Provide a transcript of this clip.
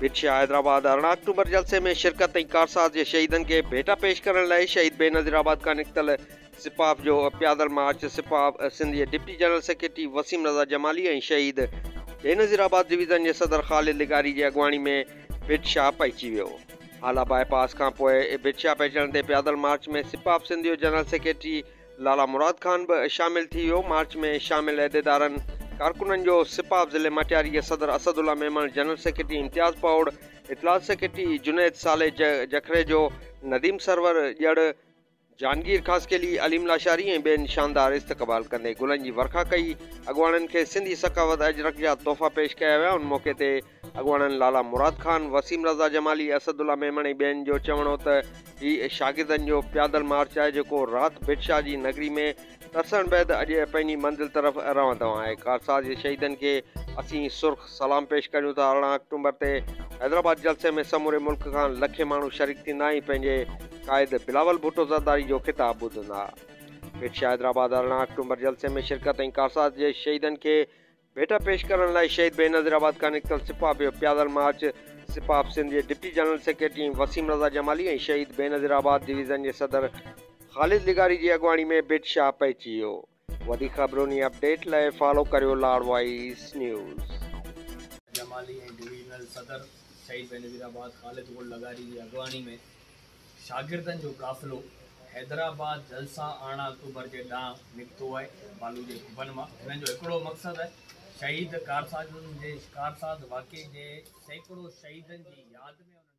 بيٽشاهه حيدرآباد ارڙهن آڪٽوبر جلسي ۾ شرڪت ۽ ڪارساز جي شهيدن کي ڀيٽا پيش ڪرڻ لاء شهيد بينظير آباد کان نڪتل سپاف جو پيادل مارچ سپاف سنڌ جي deputy general secretary Waseem Raza Jamali ۽ Shaheed Benazir آباد ڊويزن جي صدر خالد لغاري جي اڳواڻي ۾ بيٽشاهه پهچي ويو هالا باء پاس کانپوء بيٽشاهه پهچڻ تي پيادل مارچ ۾ سپاف سنڌ جو جنرل سيڪريٽري لالا مراد خان به شامل ٿي ويو. مارچ ۾ شامل عهديدارن ڪارڪنن جو سپا آف ضلعي مٽياري جي صدر اسد الله ميمڻ، جنرل سيڪريٽري امتياز پوڙ، اطلاعات سيڪريٽري جنيد صالح جکريجو، نديم سرور ڄڙ، جهانگير خاصخيلي، عليم لاشاري ۽ ٻين شاندار استقبال ڪندي گلن جي ورکا ڪئي. اڳواڻن کي سنڌي ثقافت اجرڪ جا تحفا پيش ڪيا ويا. ان موقعي تي اڳواڻن لالا مراد خان، وسيم رضا جمالي، اسد الله ميمڻ ۽ ٻين جو چوڻ هو ته هي شاگردن جو پيادل مارچ آهي جيڪو رات ڀٽ شاهه جي نگري ۾ ترسڻ بعد اڄ پنهنجي منزل طرف روان دوان آهي. ڪارساز جي شهيدن کي اسين سرخ سلام پيش ڪريون ٿا. ارڙهن آڪٽومبر تي حيدرآباد جلسي ۾ سموري ملڪ کان لکين ماڻهو شريڪ ٿيندا ۽ پنهنجي قائد بلاول ڀٽو زرداري جو خطاب ٻڌندا. ڀٽ شاهه حيدرآباد ارڙهن آڪٽومبر جلسي ۾ شرڪت ۽ ڪارساز جي شهيدن کي ڀيٽا پيش ڪرڻ لاء شهيد بينظير آباد کان نڪتل سپاهه پيو پيادل مارچ سپاهه آف سنڌ جي deputy general secretary ۽ Waseem Raza Jamali ۽ Shaheed Benazir آباد ڊويزن جي صدر خالد لغاري جي اڳواڻي ۾ ڀٽ شاهه پهچي ويو وڌيڪ خبرون ۽ اپڊيٽ لاء فالو ڪريو Lar voice news. Jamali ۽ divisional صدر شهيد بينظير آباد خالد گل لغاري جي اڳواڻي ۾ شاگردن جو قافلو حيدرآباد جلسا آڻا اڪتوبر جي ڏانهن نڪتو آهي بالو جي ڪوبن مان هنن جو هڪڙو مقصد آهي شهيد ڪارسازن جي ڪارساز واقعي جي سيڪڙو شهيدن جي ياد ۾ انهن